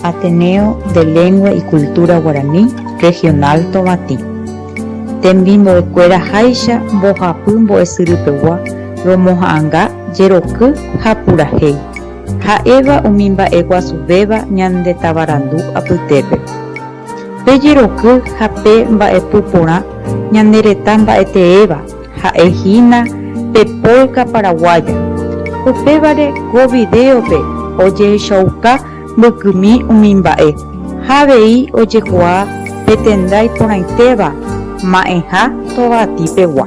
Ateneo de Lengua y Cultura Guarani Regional Tovatĩ, Tembimbo'ekuéra háicha mbohapy mbo'esyrypegua romoha'ãnga jeroky ha purahéi, ha'éva umi mba'e guasuvéva ñande tavarandu apytépe. Pe jeroky ha pe mba'epu porã ñane retã mba'eteéva ha'e hína pe polka paraguaya. Upévare ko vidéope ojehechauka mbykymi umi mba'e ha avei ojekuaa pe tenda iporãitéva ma'ẽha Tovaty pegua.